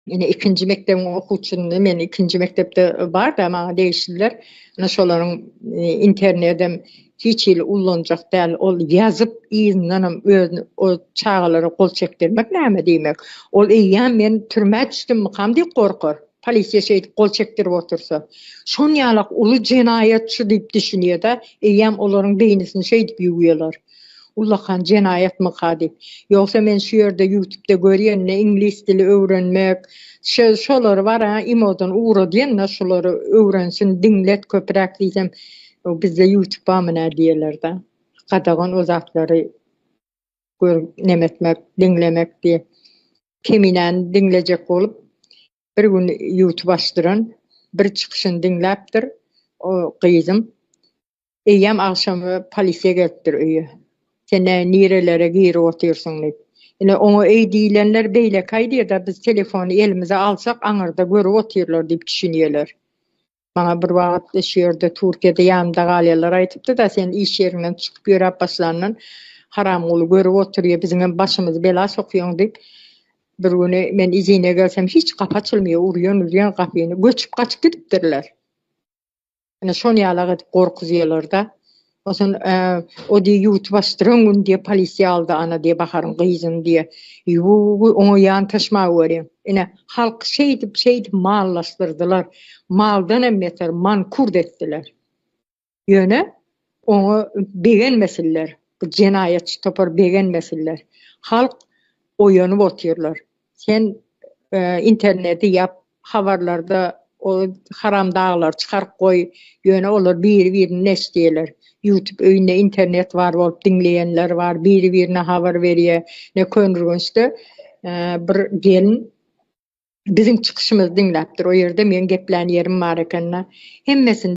Ine ikinji mekdebiň okuwçyny men ikinji mekdepde barda maňa degişliler. Ine şolaryň internedem hiç hili ullanjak däl. Ol ýazyp yzyndanam özüni o çagalara gol çekdirmek näme diýmek. Ol eýýäm men türmä düşdümmikam diýip gorkar. Polisiýa şeýdip gol çekdirip otursa. Şonýalak uly jenaýatçy diýip düşünýärde, eýýäm olaryň beýnisini şeýdip ýuwýarlar. Ullakan jenaýatmyka diýip. Ýogsa men şu ýerde ýutupda görýänine iňlis dili öwrenmek, şöz şolary bar-a imodan ugradýanda şolary öwrensin diňlet köpüräk diýsem o bizde ýutup bamy nä diýerler-da. Gadagan o zatlary görüp nemetmek, diňlemek diýip. Keminäni diňlejek bolup bir gün ýutup açdyran bir çykyşyny diňläpdir o gyzym. Eýýäm agşamy polisiýa gelipdir öýe. Sen näme nirelere girip otyrsyň diýip. Ine, oňa öý diýlenler beýlekäý diýer-de, biz telefony elimize alsak, aňyrda görüp otyrlar diýip düşünýärler. Maňa bir wagt şu ýerde Türkiýede ýanymda galýanlar aýdypdy-da, sen iş ýeriňden çykyp ýöräp başlandan, Haramguly görüp otyrýa, biziňem başymyzy bela sokýaň diýip. Bir güni men izine gelsem, hiç gapy açylmaýar, urýan-urýan gapyny. Göçüp-gaçyp gidipdirler. Ine şony ýalak edip gorkuzýalarda. Osun o diýe ýuwup başdyran gün diýe polisiýa aldy ana diýe Baharyň gyzyn diýe. Ýuwugy oňa ýan taşma göreň. Ine halk şeýdip şeýdip mallaşdyrdylar. Maldan hem beter mankurt etdiler. Ýöne Oňa begenmesinler, bu jenaýatçy topar begenmesinler. Halk oýanyp otyrlar. Sen interneti ýap, habarlarda o haramdaglary çykaryp goý, ýöne olar biri-birini neşdeýärler. Ýutub öýünde internet bar bolup diňleýänler bar, biri-birine habar berýär. Ine, Köneürgençde bir gelin biziň çykyşymyzy diňläpdir. O ýerde meň geplän ýerim bar eken-de. Hemmesini.